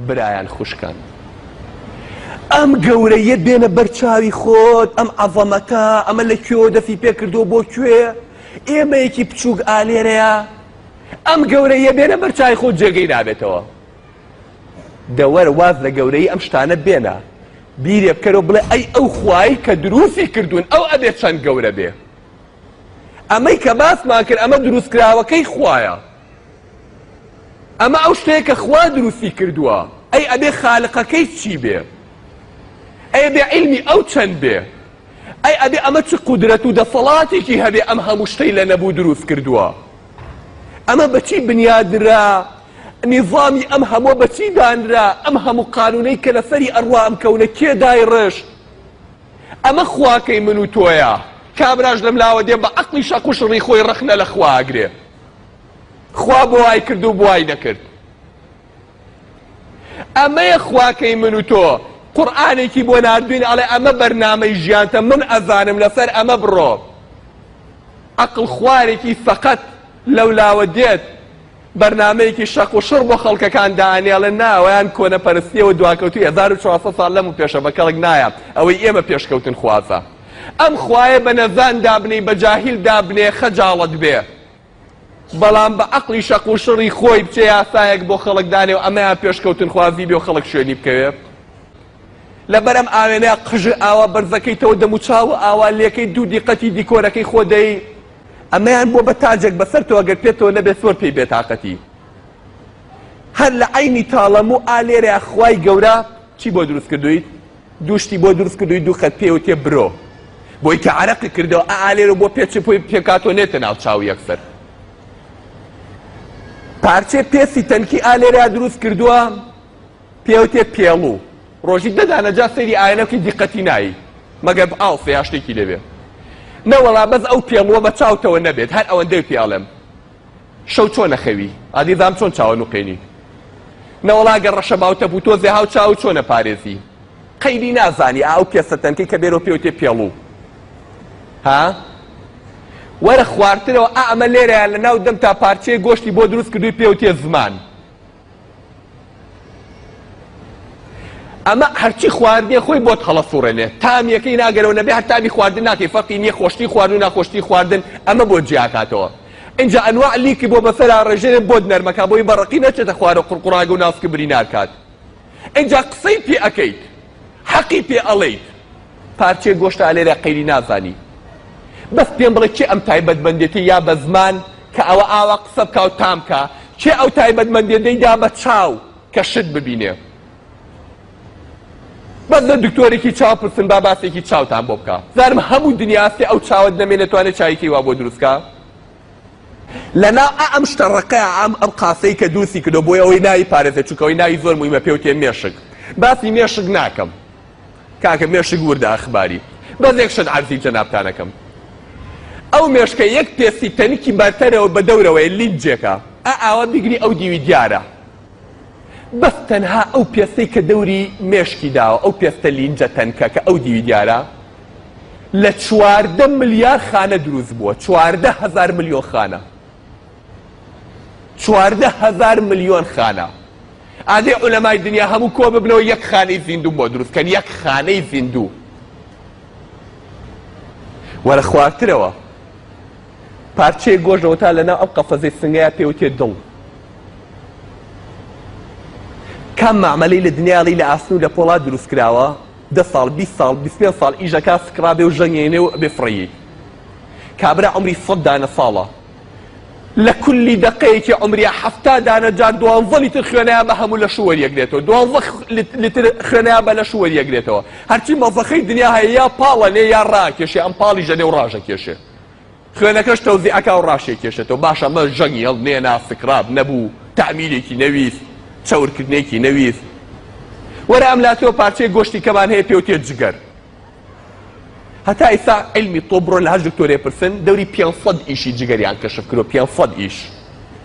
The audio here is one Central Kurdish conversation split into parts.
برایان خوشکان ئەم گەورەیەت بێنە بەرچاوی خۆت ئەم عەڤەمەتە ئەمە لە کوێوە دەفی پێکردو بۆ کوێ ئێمەیەکی بچووک ئالێرەیە ئەم گەورەیە بێنە بەرچای خۆت جێگەی نابێتەوە دەوەر واز لە گەورەی ئەم شتانە بێنە بیرێ بکەرەوە بڵێ ئەی ئەو خوای کە دروستی کردوون ئەو ئەبێت چەند گەورە بێ ئەمەی کە باسمان کرد ئەمە دروستکراوەکەی خوایە ئەمە ئەو شتەیە کە خوا دروستی کردووە ئەی ئەبێ خالقەکەی چی بێ ئەی بێ علمی ئەو چەند بێ ئەی ئەبێ ئەمە چ قودرەت و دەسەڵاتێکی هەبێ ئەم هەموو شتەی لە نەبوو دروست کردووە ئەمە بەچی بنیادرا نیظامی ئەم هەموو بەچی دانرا ئەم هەموو قانونەی کە لەسەری ئەڕوا ئەم کەونە کێدای ڕشت ئەمە خواکەی من و تۆیە. کابراش لەم لاوە دێ بە عەقڵی شەق و شڕی خۆی ڕەخنە لە خوا ئەگرێ. خوا بۆ وای کرد و بۆ وای نەکرد. ئەمەیە خواکەی من و تۆ. قورئانێکی بۆ ناردووین ئەڵێ ئەمە بەرنامەی ژیانتە من ئەزانم لەسەر ئەمە بڕۆ. عەقڵ خوارێکی سەقەت لەو لاوە دێت. بەرنامەیەکی شەق و شڕ بۆ خەڵکەکان دانێڵێ نا ئەوەیان کۆنەپەرستیەوە دواکەوتوی هەزار و چوار سەد ساڵ لەم و پێشە بەکەڵک نایە ئەوەی ئێمە پێشکەوتن خوازە ئەم خوایە بە نەزان دابنێی بە جاهیل دابنێ خەجاڵەت بێ بەڵام بە عەقڵی شەق و شڕی خۆی بچێ یاسایەک بۆ خەڵک دانێ و ئەمەیان پێشکەوتن خوازی بێ و خەڵک شوێنی بکەوێ لەبەر ئەم ئاوێنە قژە ئاوا بەرزەکەیتەوە دەموچاو و ئاوا لێکەی دوو دیقەتی دیکۆرەکەی خۆ دەی ئەمەیان بووە بە تاجێک بەسەرتەوە گەر پێتەوە نەبێ زۆر پێی بێتاقەتی هەر لە عینی تاڵەم و ئا لێرە خوای گەورە چی بۆ دروست کردویت دوو شتی بۆ دروست کردوی دوو خەت پێ و تێ برۆ بۆی کە عرەقی کردەوە ئا لێرە بۆ پێچ پۆی پێکاتۆ نێتە ناو چاو یەکسەر پارچێ پێسی تەنکی ئالێرا دروست کردووە پێوتێ پێڵو ڕۆژی دە دانە جا سەیری ئاەنە بکەی دیقەتی نایی مەگەر ئاڵسە یا شتێکی لێبێ نەوەڵا بەس ئەو پێڵووە بە چاوتەوە نەبێت هەر ئەوەندەی پێ ئەڵێم شەو چۆن نەخەوی ئادی دام چۆن چاوە نوقێنی نەوەڵا گە ڕەشە باوتە بوو تۆزێ هاو چاو چۆنە پارێزی قەیری نازانی ئاو پێسە تەنکەی کە بێرۆ پێوتێ پێڵوو ها وەرە خوارترەوە ئەمە لێرەیە لە ناو دەم تا پارچەیە گۆشتی بۆ دروست کردووی پێوتێ زمان ئەمە هەرچی خواردنێ خۆی بۆت هەڵە سوڕێنێ تامیەکەی ناگەرەوە نەبێ هەر تامی خواردن ناکەی فەقی نییە خۆشتی خواردن و ناخۆشتی خواردن ئەمە بۆ جیاکاتەوە اینجا ئەنواع لیکی بۆ بەسەرا ڕێژێ بۆت نەرمەکە بۆی بەڕقی نەچێتە خوارە قڕقڕاگە و ناسکە بری ناکات اینجا قسەی پێ ئەەکەیت حەقی پێ ئەڵێیت پارچەیە گۆشتە ئەلێرە قەیری نازانی بەس پێم بڵێ کێ ئەم تایبەت مەندێتی یا بە زمان کە ئەوە ئاوا قسە بکا و تام کا کێ ئەو تایبەت مەندێ دەی دا بە چاو کە شت ببینێ بەس لە دکتۆرێکی چاو پرسن با باسێکی چاوتان بۆ بکا زارم هەموو دنیا ئەسێ ئەو چاوت نەمێ نەتوانێت چاویکەی وا بۆ دروستکە لەناو ئائەم شتە ڕەقە ئائەم ئەم قاسەی کە دووسی کردوە بۆی ئەوەی ناوی پارێزێ چونکە ئەوەی ناوی زۆر مویمە پێوتێ مێشک باسی مێشک ناکەم کاکە مێشک وردە ئەخباری بەس یەک شت عەرزی جەنابتانەکەم ئەو مێشکە یەک پێستی تەنکی بەرتەرەوە بە دەورەوەی لینجێکە ئا ئاوا بیگری ئەو دیوی دیارە بەس تەنها ئەو پێستەی کە دەوری مێشکی داوە ئەو پێستە لینجە تەنکە کە ئەو دیوی دیارە لە چواردە ملیار خانە دروست بووە چواردە هەزار ملیۆن خانە چواردە هەزار ملیۆن خانە ئادێ عولەمای دنیا هەموو کۆ ببنەوە یەک خانەی زیندوو بۆ دروستکەن یەک خانەی زیندوو وەرە خوارترەوە پارچەیەک گۆشت لەوەتا لەناو ئەم قەفەزەی سنگەیا پێوتێ دڵ کام مەعمەلەی لە دنیاڵی لە ئاسن و لە پۆڵا دروست کراوە دە ساڵ بیست ساڵ بیست پێنج ساڵ ئیش دەکا سکڕابێ و ژەنگێنێ و ئەبێ فڕێی کابرا عمری سەد دانە ساڵە لە کولی دەقەیەکی عمریا حەفتا دانە جار دوانزە لیتر خوێنەیە بە هەموو لە شووەر یەکرێتەوە دوانزە لیتر خوێنەیە بە لە شووەر یەکرێتەوە هەرچی مەزەخەی دنیا هەیە یا پاڵەنێ یا ڕاکێشێ ئەم پاڵی ژەنێ و ڕاژە کێشێ خوێنەکەش تەوزی ئەکا و ڕاشێکێشێتەوە باش ئەمە ژەنگی هەڵنێنا سکڕاب نەبوو تەعمیرێکی نەویست چەورکردنێکی نەویست وەرە ئەم لاتۆ پارچەیە گۆشتی کەمان هەیە پێوتێ جگەر هەتا ئیستا علمی تۆ بڕۆ لە هەر دکتۆرێ پرسن دەوری پێنج سەد ئیشی جگەریان کەشف کرۆ پێنج سەد ئیش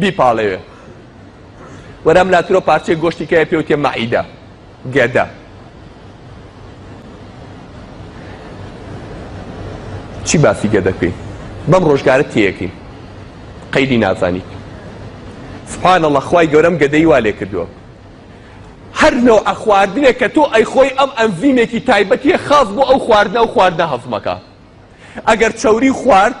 بیپاڵێوێ وەرام لاترۆ پارچەی گۆشتی کەیە پێوتێ مەعیدە گەدە چی باسی گەدەکەی بەم ڕۆژگارە تێەکەی قەیدی نازانیت سبحان الله خوای گەورەم گەدەی وا لێ کردووە هەر نەوە ئەخواردنێک کە تۆ ئەی خۆی ئەم ئەنزیمێکی تایبەتیە خاص بۆ ئەو خواردنە و خواردنە هەزمەکە ئەگەر چەوری خوارد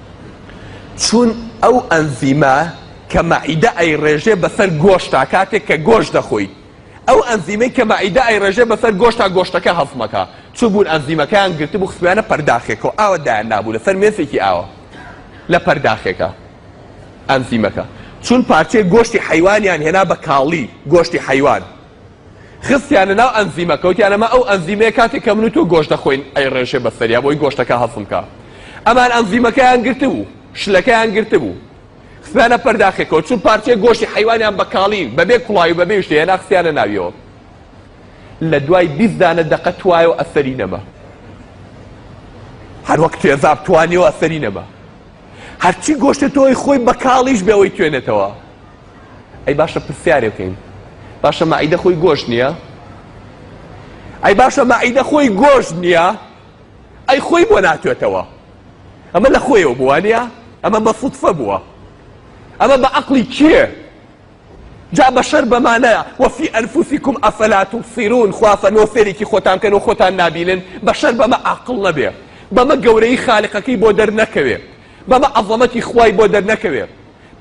چون ئەو ئەنزیمە کە مەعیدە ئەیڕێژێ بەسەر گۆشتا کاتێک کە گۆشت دەخۆیت ئەو ئەنزیمەی کە مەعیدە ئەیڕێژێ بەسەر گۆشتا گۆشتەکە هەضمەکا چوو بوون ئەنزیمەکەیان گرتبوو خستویانە پەرداخێکەوە ئاوە دایان نابوو لەسەر مێسێکی ئاوە لە پەرداخێکە ئەنزیمەکە چون پارچەی گۆشتی حەیوانیان هێنا بە کاڵی گۆشتی حەیوان خستیانە ناو ئەنزیمەکە وتیان ئەمە ئەو ئەنزیمەیە کاتێک کە من و تۆ گۆشت دەخۆین ئەیڕێژێ بەسەریا بۆی گۆشتەکە هەضم کا ئەمان ئەنزیمەکەیان گرتبوو شلەکەیان گرتبوو خستیانە پەرداخێکەوە چون پارچەیە گۆشتی حیوانیان بە کاڵی بەبێ کوڵاوی و بەبێ شتێ هێنا خستیانە ناویەوە لە دوای بیست دانە دەقە توایە و ئەسەری نەما هەر وەک تێزاب توانیەوە ئەسەری نەما هەرچی گۆشتە تۆی خۆی بە کاڵیش بێەوەی توێنێتەوە ئەی باشە پرسیارێ بکەین باشە مەعیدە خۆی گۆشت نییە ئەی باشە مەعیدە خۆی گۆشت نییە ئەی خۆی بۆ ناتوێتەوە ئەمە لە خۆیەوە بووە نیە ئەمە بە فوتفە بووە ئەمە بە عقلی کێ جا بەشەر بەمانەیە وەفی ئەنفوسیکم ئەفەلات و سیرون خوافە نۆ فێرێکی خۆتان کەن و خۆتان نبینن بەشەر بەمە عقل نەبێ بەمە گەورەی خالقەکەی بۆ دەرنەکەوێ بەمە عەظەمەتی خوای بۆ دەرنەکەوێ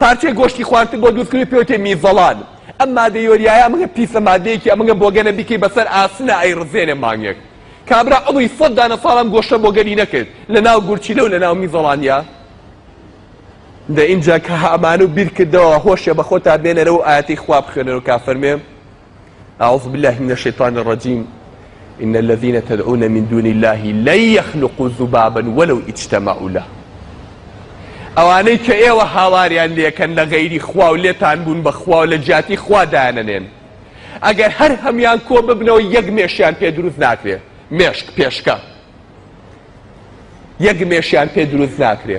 پارچەی گۆشتی خواردتر بۆ دروستکردنی پێوترێ میزەڵان ئەم مادە یۆریایە ئەمەگە پیسە مادەیەکی ئەمەگە بۆگەنە بیکەی بەسەر ئاسنە ئەیڕزێنێ مانگێک کابرا عەمری سەد دانە ساڵ ئەم گۆشتە بۆگەنی نەکرد لەناو گورچیلە و لەناو میزەڵانیا دە ئینجا کە ئەمانە و بیرکردەوە هۆشێ بەخۆتا بێنەرەوە ئایەتەی خوا بخوێنەرەوە کا فەرمێ اعوذ بالله من الشیطان الرجیم ان الذين تدعون من دون الله لن يخلقوا ذبابا ولو اجتمعوا له ئەوانەی کە ئێوە هاواریان لێکەن لە غەیری خوا و لێتان بوون بە خوا و لە جیاتی خوا دایانەنێن ئەگەر هەر هەمان کۆ ببنەوە یەک مێشیان پێ دروست ناکرێت مێشک پێشکە یەک مێشیان پێ دروست ناکرێ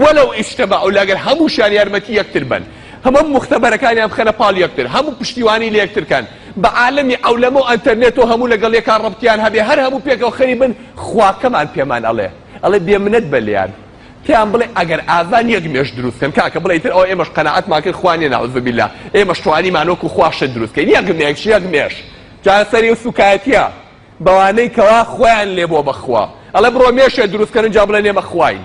ولو اجتمعوا لەگەر هەمووشیان یارمەتی یەکتر بەن هەموو مختبەرەکانیان بخەنە پاڵ یەکتر هەموو پشتیوانی لە یەکتر کەن بە عالەمی عەولەمە و ئەنتەرنێت و هەموو لەگەڵ یەکا ڕەبتیان هەبێ هەر هەموو پێکەوە خەریک بن خواکەمان پێمان ئەڵێ ئەڵێ بێ منەت بە لێیان پێیان بڵێ ئەگەر ئازان یەک مێش دروست کەن کاکە بڵێ ئیتر ئەوە ئێمەش قەناعەتمان کرد خوا نیە نەعوذ باللە ئێمەش توانیمان وەکو خوا شت دروست کەین یەک مێش یەک مێش جا سەری ئەو سووکایەتییە بەوانەی کەوا خۆیان لێ بۆ بەخوا ئەڵێ بڕۆ مێشێ دروست کەن ئینجا بڵێن ئێمە خواین.